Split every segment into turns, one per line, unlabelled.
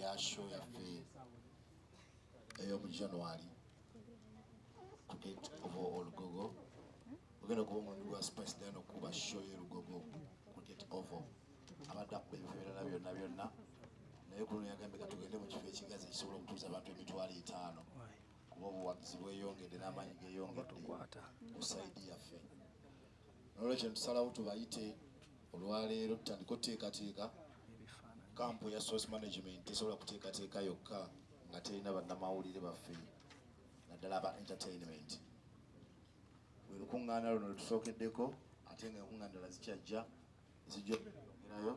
ya show yaffe eyomu january ku gate oba olugogo ogenda okuba omundi gwa spice dano kuba show y'olugogo ku gate ovo abadde akuba ebifo ebirala byonna byonna naye kuno yagambye ka tugende mu kifo ekigazi ekisobola okutuuza abantu emitwalo etaano kuba obuwagizi bweyongedde n'amaanyi geyongedde ku saidi yaffe nolwekyo netusalawo tubayite olwaleero tutandika oteekateeka kampu ya source management tesobola kuteekateeka yokka nga terina bannamawulire baffe naddala aba entertainment bwe lukuŋŋaana luno lwetusookeddeko ate nga enkuŋŋaana dala zikyajja nzija okunyongerayo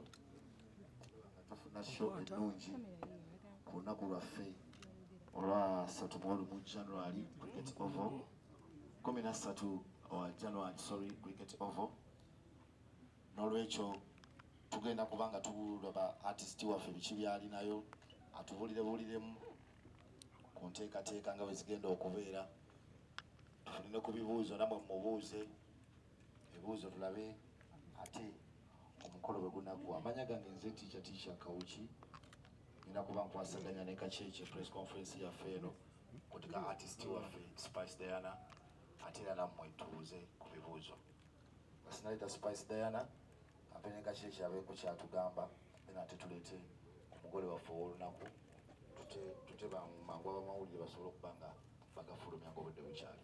nga tufuna sho ennungi ku lunaku lwaffe olwa satu mwolumu january cricket ovo kumi nassatu owa january sorry cricket ovo n'olwekyo tugenda kuba nga tulaba artist waffe biki byalinayo atubulire buliremu ku nteekateeka nga bwezigenda okubeera tufune ku bibuuzo namwe mubuuze Ebibuuzo tulabe ate omukolo bwe gunaggwa. Amanya gange nze tiica tiica Kawuki, nina kuba nkwasaganya ne Kakyekye press conference yaffe eno kuti ka artist waffe Spice Diana ate era nammwe tubuuze ku bibuuzo. Basinaleta Spice Diana ate ne Kakyekye abeeko kyatugamba then ate tuleete omugole waffe ow'olunaku tute bamawulire basobole okuba nga bagafulumya nga obudde bukyali.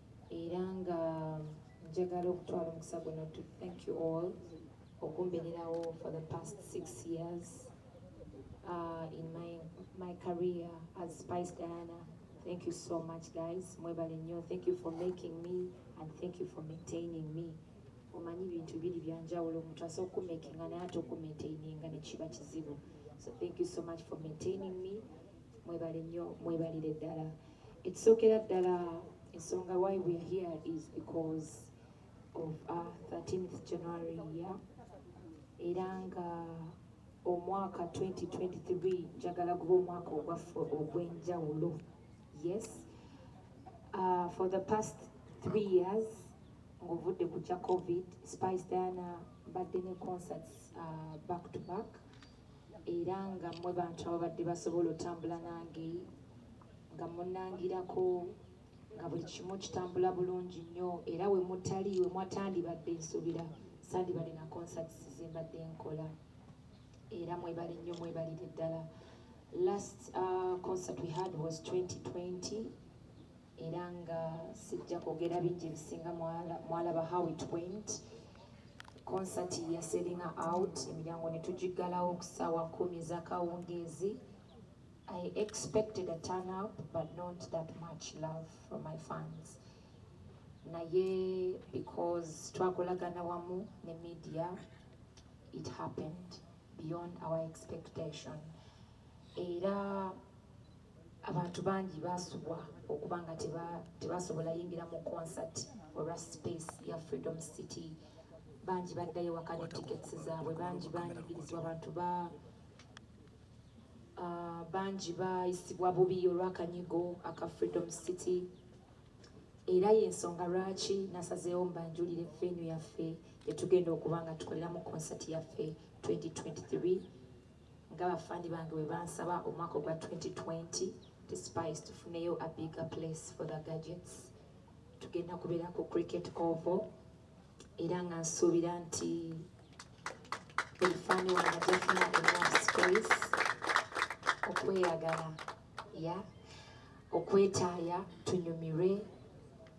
era nga njagala okutwala omukisa guno to thank you all okumbeererawo for the past six years uh, in my, my career as Spice Diana thank you so much guys mwebale nnyo thank you for making me and thank you for maintaining me omanyi bintu biri byanjawulo omuntu asobola okumekinga naye ate okumaintaininga nekiba kizibu so thank you so much for maintaining me Mwebale nnyo mwebalire ddala ekisookera ddala ensonga why we are here is because of our 13th January year era nga omwaka 2023 njagala guba omwaka ogwaffe ogw'enjawulo yes uh, for the past three years ng'ovudde ku kya covid spice diana mbadde ne concerts uh, back to back era nga mmwe bantu ababadde basobola otambula nange nga munangirako nga buli kimu kitambula bulungi nnyo era we mutali we mwatandibadde nsubira sandibadde na concerts zembadde nkola era mwebale nnyo mwebalire ddala last uh, concert we had was 2020 era nga sijja kwogera bingi ebisinga mwalaba how it went concert ya selling out emiryango ne tugiggalawo ku ssaawa kumi ez'akawungeezi i expected a turn up but not that much love from my fans naye because twakolagana wamu ne media it happened beyond our expectation era Abantu bangi baasubwa okuba nga tebaasobola yingira mu concert olwa space ya Freedom City. Bangi baddayo waka ne tickets zaabwe, bangi baanyigirizwa abantu ba ah, bangi baayisibwa bubi olw'akanyigo aka Freedom City. era yensonga lwaki nasazeewo mbanjulire fenu yaffe gyetugenda okuba nga tukoleramu konsati yaffe 2023 Nga bafandi bange bwe bansaba omwaka ogwa 2020 to spice tufuneyo a bigger place for the gadgets tugenda kubeera ku cricket oval era nga nsuubira nti buli fani wange ajafuna enough space okweyagala ya okwetaaya tunyumirwe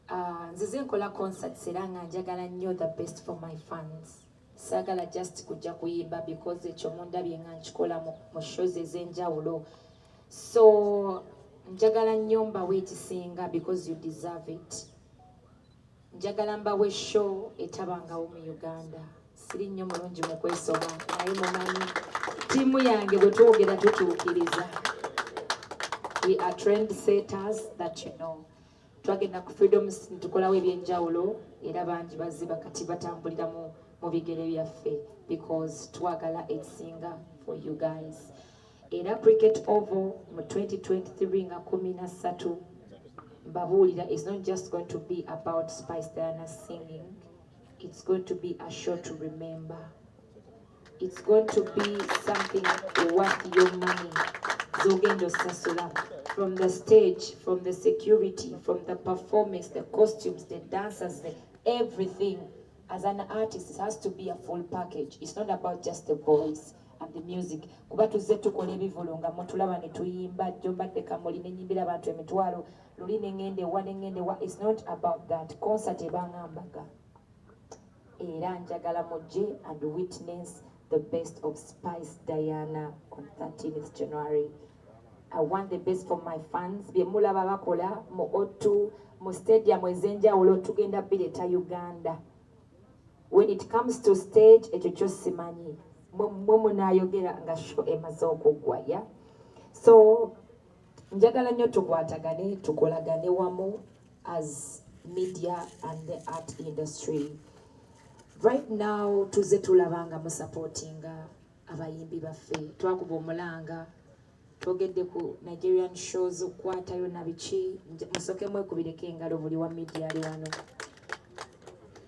Ah, nzize nkola concerts era nga njagala nnyo the best for my fans Saagala just kujja kuyimba because ekyo mundabye nga nkikola mu shows ez'enjawulo so njagala nnyo mbawe ekisinga because you deserve it njagala mbawe show etabangawo mu uganda siri nnyo mulungi mu kwesoma naye mumanyi ttiimu yange bwe twogera tutuukiriza we are trend setters that you know twagenda ku freedom ne tukolawo ebyenjawulo era bangi baziba kati batambulira mu mu bigere byaffe because twagala ekisinga for you guys era cricket ovo mu 2023 nga kumi na ssatu mbabuulira is not just going to be about spice diana singing it's going to be a show to remember It's going to be something worth your money. Zogendo Sasula. From the stage, from the security, from the performance, the costumes, the dancers, the everything. As an artist, it has to be a full package. It's not about just the voice and the music. Kuba tuzze tukola ebivulu nga mutulaba ne tuyimba jjo mbadde kamuli ne nyimbira abantu emitwalo luli ne ngende wa ne ngende wa. It's not about that. Concert ebanga mbaga. Era njagala mujje and witness the best of Spice Diana on 13th January. I want the best for my fans. Bye mulaba bakola mu O2 mu stadium ezenjawulo tugenda bireta Uganda. When it comes to stage ekyo kyo simanyi mwe munayogera nga sho emaze okuggwa ya so njagala nnyo tukwatagane tukolagane wamu as media and the art industry right now tuze tulaba nga musupportinga abayimbi baffe twakuba omulanga twogedde ku nigerian shows okukwatayo nabiki musoke mwekubireko engalo buli wa media ali wano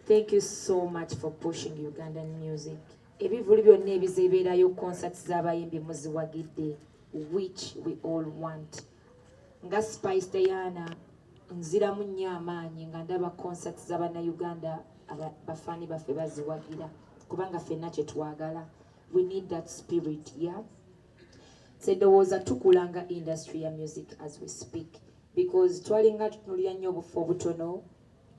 thank you so much for pushing ugandan music ebivulu byonna ebizebeerayo concerts z'abayimbi muziwagidde which we all want nga spice diana nziramu nnyo amaanyi nga ndaba concerts z'abannayuganda bafaani baffe baziwagira kubanga fenna kye twagala we need that spirit ya sedowooza tukula nga industry ya music as we speak because twalinga tutunulira nnyo obufu obutono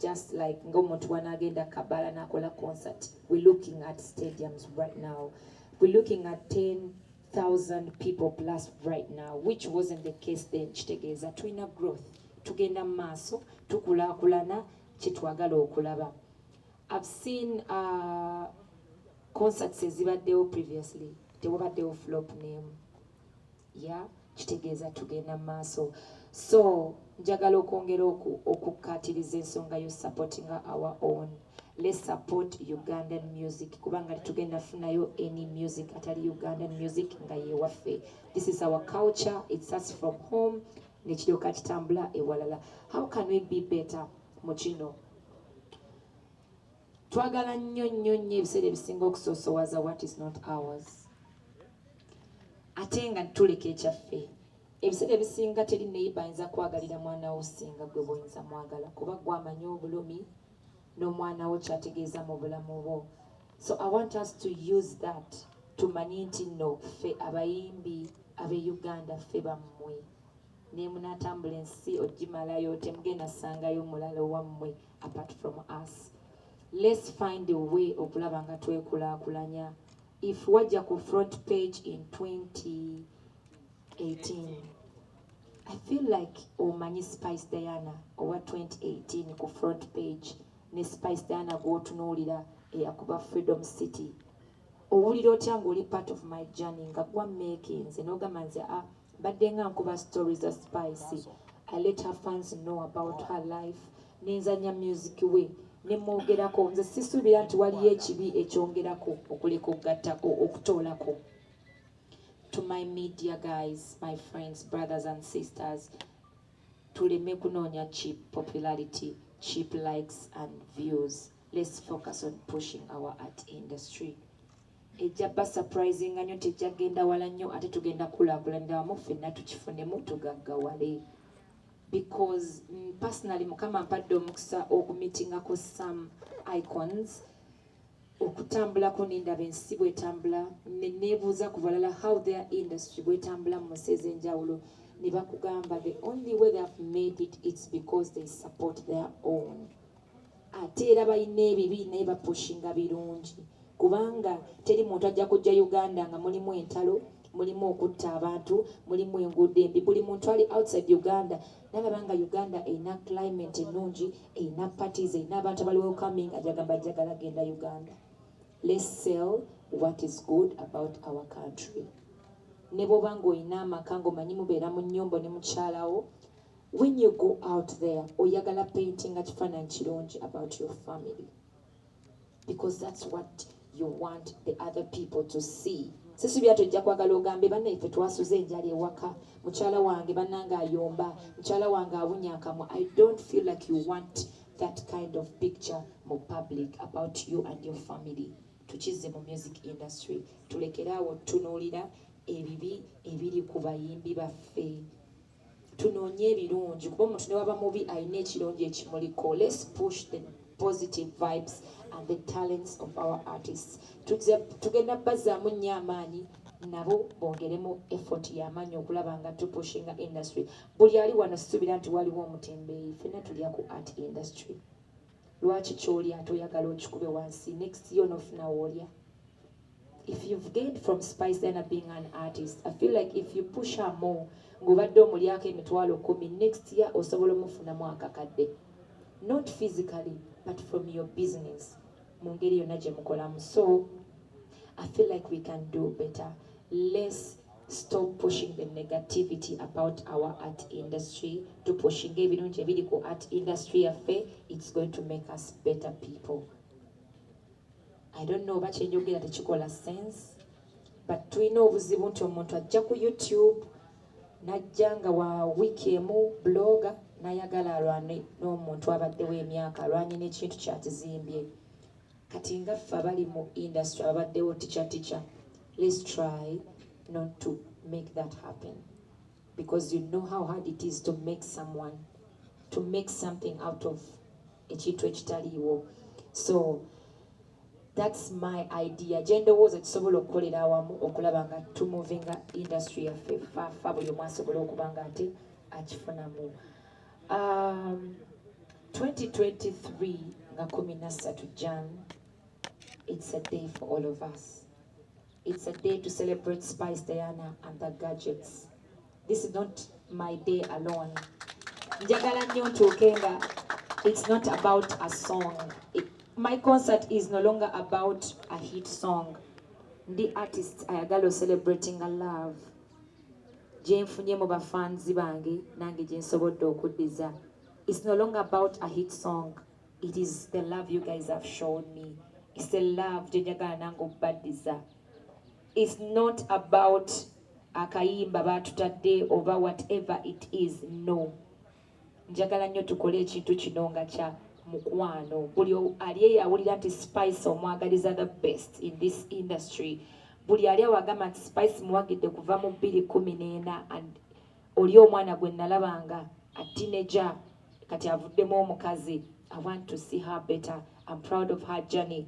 just like ng'omuntu wanaagenda kabala n'akola concert we looking at stadiums right now we looking at 10 thousand people plus right now which wasn't the case then kitegeeza tulina growth tugenda mu maaso tukulaakulana kyetwagala okulaba i've seen uh, concerts ezibaddewo previously tewabaddewo flop name ya kitegeeza tugenda mu maaso so njagala okwongera okukkaatiriza ensonga yo supportinga our own Let's support Ugandan music kubanga tugenda funayo any music atali Ugandan music nga yewaffe. This is our culture, it starts from home nekiryoka kitambula ewalala. How can we be better mu kino? Twagala nnyo nnyo nnyo ebiseera ebisinga okusoosowaza what is not ours. Ate nga tuleka ekyaffe. Ebiseera ebisinga teri neyiba ayinza kwagalira mwana wo singa gwe bwoyinza mwagala kuba gwamanyi obulumi n'omwana wo kyategeeza mu bulamu bwo so i want us to use that tumanye nti nno ffe abayimbi abe uganda ffe bammwe naye munaatambula ensi ogimalayo temugenda sangayo mulala owammwe apart from us let's find a way okulaba nga twekulaakulanya if wajja ku front page in 2018 i feel like omanyi spice diana owa 2018 ku front page ne spice diana gwotunuulira eyakuba freedom city owulira otya ngaoli part of my journey nga gwa makinze nogamba nze a ah, Mbadde nga nkuba story za spice I let her fans know about her life nenzanya music we nemwogerako nze sisuubira nti waliyo ekibi ekyongerako okuleka okugatta okutoolako to my media guys my friends brothers and sisters tuleme kunoonya cheap popularity cheap likes and views let's focus on pushing our art industry Ejja ba surprisinga nyo tejja genda wala nyo ate tugenda kulakulanira wamu ffenna tukifunemu tugaggawale because mm, personally mukama ampadde omukisa okumitingako some icons okutambulako nendaba ensi bwetambula nenebuuza ku balala how their industry bwetambula mu nsi ez'enjawulo ne bakugamba the only way they have made it it's because they support their own Ate era balina ebibi naye ba pushinga birungi kubanga teri muntu ajja kujja Uganda nga mulimu entalo, mulimu okutta abantu, mulimu enguudo embi. Buli muntu ali outside Uganda nalaba nga Uganda erina climate ennungi, erina parties, erina abantu abali welcoming ajagamba jagala genda Uganda. Let's sell what is good about our country. Ne bwoba nga olina amaka nga omanyi mubeera mu nyumba ne mukyalawo When you go out there oyagala paintinga kifaananyi kirungi about your family because that's what you want the other people to see sisubira tojja kwagala ogambe bannaife twasuze enjala ewaka mukyala wange bannange ayomba mukyala wange awunya akamwa i don't feel like you want that kind of picture mu public about you and your family tukizze mu music industry tulekeraawo tunuulira ebibi ebiri ku bayimbi baffe tunoonye ebirungi kuba omuntu newaba mubi alina ekirungi ekimuliko let's push the positive vibes and the talents of our artists tugenda bazaamu nnyo amaanyi nabo bongeremu effort yamaanyi okulaba nga tupushinga industry buli ali wano sisuubira nti waliwo omutembeeyi fena tulya ku art industry Lwaki kyolya ate oyagala okikube wansi next yo nofuna wolya if you've gained from spice ena being an artist i feel like if you push her more ng'obadde omulyako emitwalo kumi next year osobola omufunamu akakadde not physically but from your business mu ngeri yonna gye mukolamu so i feel like we can do better less Stop pushing the negativity about our art industry to pushing ebirungi ebiri ku art industry yaffe it's going to make us better people i don't know oba kyenjogera tekikola sense but tulina obuzibu nti omuntu ajja ku youtube najja nga wa wiiki emu bloga nayagala alwane n'omuntu abaddewo emyaka alwanye n'ekintu kyakizimbye Kati nga ffe abali mu industry ababaddewo teacher teacher let's try not to make that happen because you know how hard it is to make someone to make something out of ekintu ekitaliiwo so that's my idea gyendowooza kisobola okukolera awamu okulaba nga tumovinga industry yaffe fafa buli omu asobola okuba nga ate akifunamu Um, 2023 nga kumi na ssatu jan it's a day for all of us it's a day to celebrate spice diana and the gadgets this is not my day alone njagala nnyo ntuuke nga it's not about a song it, my concert is no longer about a hit song ndi artist ayagala ocelebrating a love gyenfunye mu ba fans bange nange gyensobodde okuddiza it's no longer about a hit song it is the love you guys have shown me it's a love gyenjagala nange okubaddiza it's not about akayimba batutadde oba whatever it is no Njagala nyo tukole ekintu kino nga kya mukwano. Buli ali eyo awulira nti Spice omwagaliza the best in this industry. Buli ali awo agamba nti Spice muwagidde kuva mu bbiri kumi n'ena and oli omwana gwe nalabanga a teenager kati avuddemu omukazi. I want to see her better. I'm proud of her journey.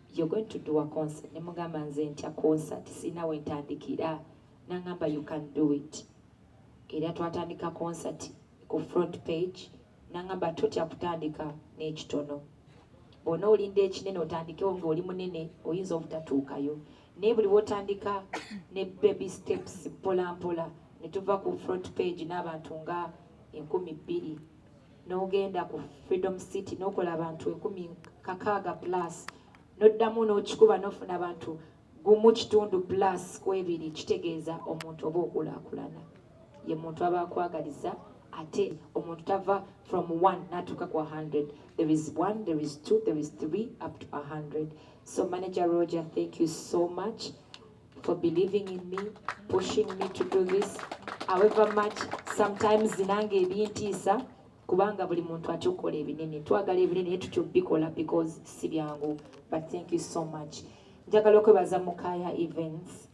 you're going to do a concert nemugamba nze ntya concert sirina wentandikira nangamba you can do it era twatandika concert ku front page nangamba totya kutandika n'ekitono bwona olinda ekinene otandikewo ngaoli munene oyinza obutatuukayo naye buli wotandika ne baby steps mpolampola netuva ku front page n'abantu nga enkumi bbiri n'ogenda ku Freedom City n'okola abantu ekumi kakaaga plus n'oddamu n'okikuba n'ofuna abantu gumu kitundu plus ku ebiri kitegeeza omuntu oba okulaakulana ye muntu aba akwagaliza ate omuntu tava from one natuuka ku 100 there is one there is two there is three up to 100 so manager roger thank you so much for believing in me, pushing me to do this. However much, sometimes zinanga ebintiisa kubanga buli muntu atya okukola ebinene twagala ebinene naye tutya okubikola because si byangu but thank you so much njagala okwebaza mukaya events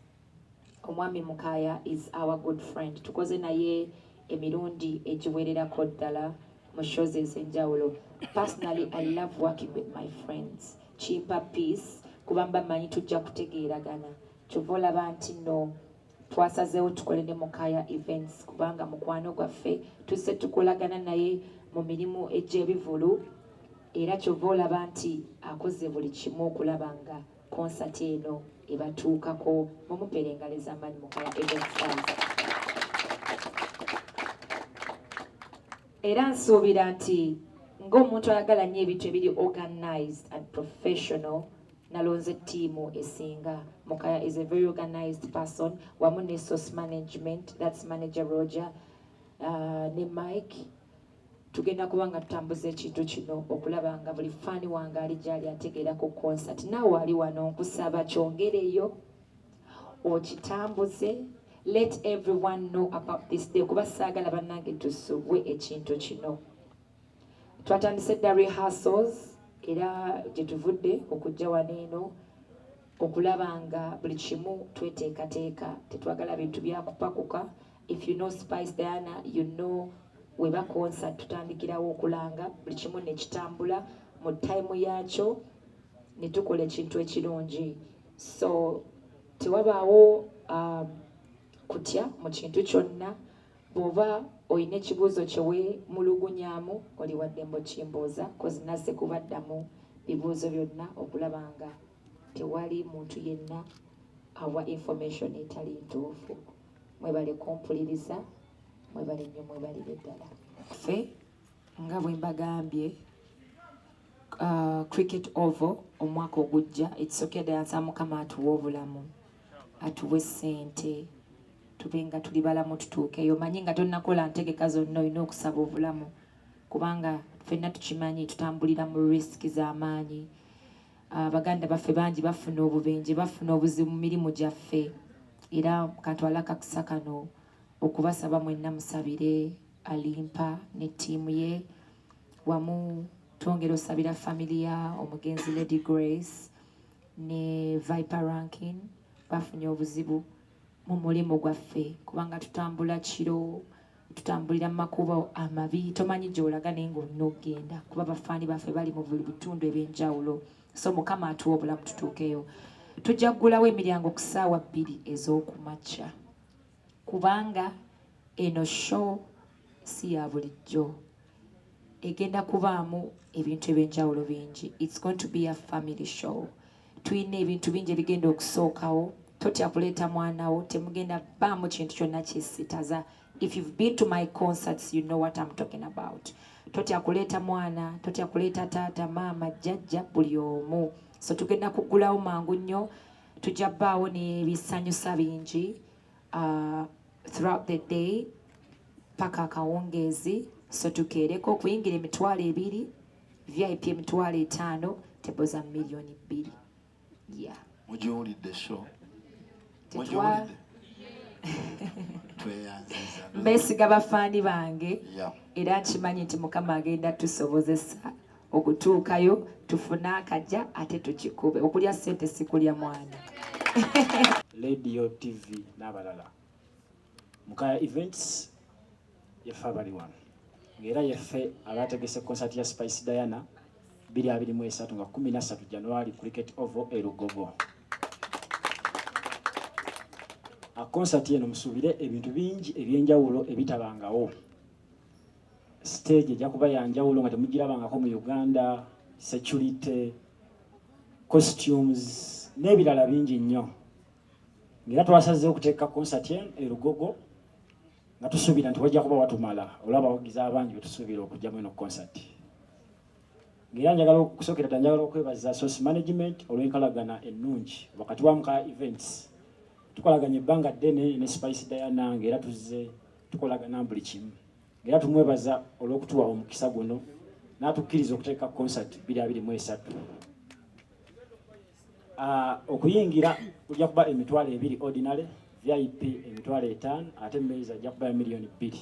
omwami mukaya is our good friend tukoze naye emirundi egiwererako ddala mu show ze ez'enjawulo personally i love working with my friends kimpa peace kuba mba manyi tujja kutegeeragana kyova olaba nti no twasazeewo tukole ne mukaya events kubanga mukwano gwaffe tuzze tukolagana naye mu mirimu egy'ebivulu era kyova olaba nti akoze buli kimu okulaba nga konsati eno ebatuukako mumupera engalo ezamaanyi mukaya evenstars era nsuubira nti ng'omuntu ayagala nnyo ebintu ebiri organized and professional nalonze ttiimu esinga mukaya is a very organized person wamu ne source management that's manager roger uh, ne mike Tugenda kuba nga tutambuza ekintu kino okulaba nga buli ffaani wange ali gy'ali ategeera ku konsati. Naawe ali wano nkusaba kyongereyo okitambuze let everyone know about this day kuba saagala bannange tusubwe ekintu kino twatandise dda rehearsals era gye tuvudde okujja wano eno okulaba nga buli kimu tweteekateeka tetwagala bintu byakupakuka if you know spice diana you know weba concert tutandikirawo okulanga buli kimu nekitambula mu time yakyo netukola ekintu ekirungi so tewabaawo um, kutya mu kintu kyonna bwoba olina ekibuuzo kyewemulugunyamu oli waddembo kimbuuza kozi naze kubaddamu bibuuzo byonna okulaba nga tewali muntu yenna awa information etali ntuufu mwebale kumpuliriza mwebale nnyo mwebalire ddala ffe nga bwe mbagambye uh, cricket oval omwaka ogujja ekisokedeyansa mukama atuwa obulamu atuwe ssente tube nga tuli balamu tutuukeyo manyi nga tonnakola ntegeka zonna olina okusaba obulamu kubanga fenna tukimanyi tutambulira mu risk z'amaanyi Ah, baganda baffe bangi bafuna obubenje bafuna obuzibu mu mirimu gyaffe era katwala kakisa kano okubasaba mwenna musabire alimpa ne ttiimu ye wamu twongera osabira famiry ya omugenzi lady grace ne viper rankin bafunye obuzibu mu mulimu gwaffe kubanga tutambula kiro tutambulira mu makubo amabi tomanyi gyolaga naye ngaolina okugenda kuba bafaani baffe bali mu buli bitundu ebyenjawulo so mukama atuwa obulamu tutuukeyo tujja kugulawo emiryango ku ssaawa bbiri ez'okumakya kubanga eno show si ya bulijjo egenda kubaamu ebintu ebyenjawulo bingi its going to be a family show tulina ebintu bingi ebigenda okusookawo totya kuleeta mwana wo temugenda baamu kintu kyonna kisitaza if you've been to my concerts you know what I'm talking about totya kuleeta mwana totya kuleeta taata maama jjajja buli omu so tugenda kugulawo mangu nnyo tujja baawo nebisanyusa bingi uh, throughout the day paka akawungeezi so tukeereko okuyingira emitwalo ebiri vip emitwalo etaano tebo za miliyoni bbiri ya mugiwulidde
sho mugiwulidde
mbesiga bafaani bange era nkimanyi nti mukama agenda tusobozesa okutuukayo tufune akaja ate tukikube okulya sente sikulya mwana
radio tv n'abalala mukaya events yeffe abali wano ng'era yeffe abaategese konsati ya spice diana 2023 nga 13 january cricket ovo erugogo akonsati eno musuubire ebintu bingi ebyenjawulo ebitabangawo stage ejja kuba yanjawulo nga temugirabangako mu uganda security costumes n'ebirala bingi nnyo ngaera twasazeewo okuteeka konsati eno erugogo nga tusuubira nti wajja kuba watumala olaba abawagizi abangi betusuubira okujjamu eno concert ngaera njagala okusookera dda njagala okwebaza source management olw'enkalagana ennungi wakati wa mukaya events tukolaganya ebbanga ddene ne spice diana ngaera tuzze tukolagana buli kimu ngaera tumwebaza olw'okutuwa omukisa guno n'atukkiriza okuteeka concert 223 Uh, okuyingira ojja kuba emitwalo ebiri ordinary vip emitwalo etaano ate maize ajja kuba ya miliyoni bbiri